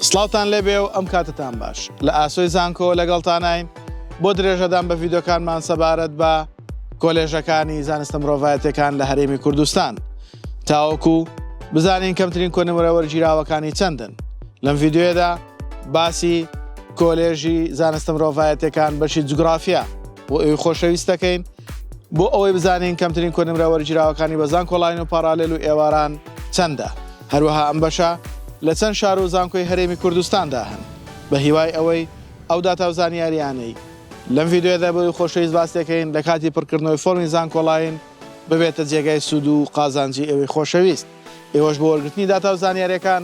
سڵاوتان لێبێ و ئەم کاتەتان باش. لە ئاسۆی زانکۆوە لەگەڵتاناین بۆ درێژەدان بە ڤیدۆکانمان سەبارەت بە کۆلێژەکانی زانستە مرۆڤایەتیەکان لە هەرێمی کوردستان تاوەکو بزانین کەمترین کۆنمرە وەرگیراوەکانی چەندن لەم ڤیددیوێدا باسی کۆلێژی زانستە مرۆڤایەتەکان بەشی جوگرافیا بۆ ئەوی خۆشەویستەکەین بۆ ئەوەی بزانین کەمترین کۆنمرە وەرگیراوەکانی بە زانکۆلاین و پاڕالێل و ئێواران چەندە هەروەها ئەم بەشە لە چەند شار و زانکۆی هەرێمی کوردستاندا هەن بە هیوای ئەوەی ئەو داتا و زانیاریانەی لەم ڤیدیۆیەدا بۆی خۆشەویست باس دەکەین لە کاتی پڕکردنەوەی فۆرمی زانکۆلاین ببێتە جێگای سوود و قازانجی ئێوەی خۆشەویست ئێوەش بۆ وەرگرتنی داتا و زانیاریەکان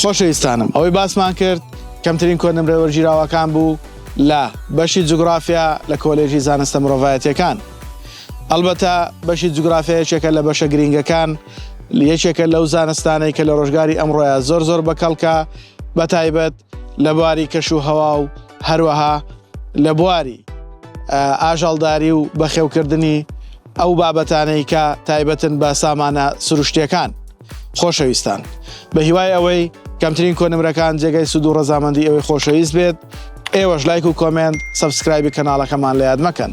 خۆشەویستانم ئەوەی باسمان کرد کەمترین کۆنمرە وەرگیراوەکان بوو لە بەشی جوگرافیا لە کۆلێژی زانستە مرۆڤایەتیەکان ئەلبەتە بەشی جوگرافیا یەکێکە لە بەشە گرنگەکان یەکێکە لەو زانستانەی کە لە ڕۆژگاری ئەمڕۆیە زۆر زۆر بەکەڵکە بە تایبەت لە بواری کەش و هەوا و هەروەها لە بواری ئاژەڵداری و بەخێوکردنی ئەو بابەتانەی کە تایبەتن بە سامانە سروشتیەکان. خۆشەویستان. بە هیوای ئەوەی کەمترین کۆنمرەکان جێگەی سود و ڕەزامەندی ئەوەی خۆشەویست بێت، ئێوەش لایک و کۆمێنت، سەبسکرایبی کەناڵەکەمان لە یاد مەکەن.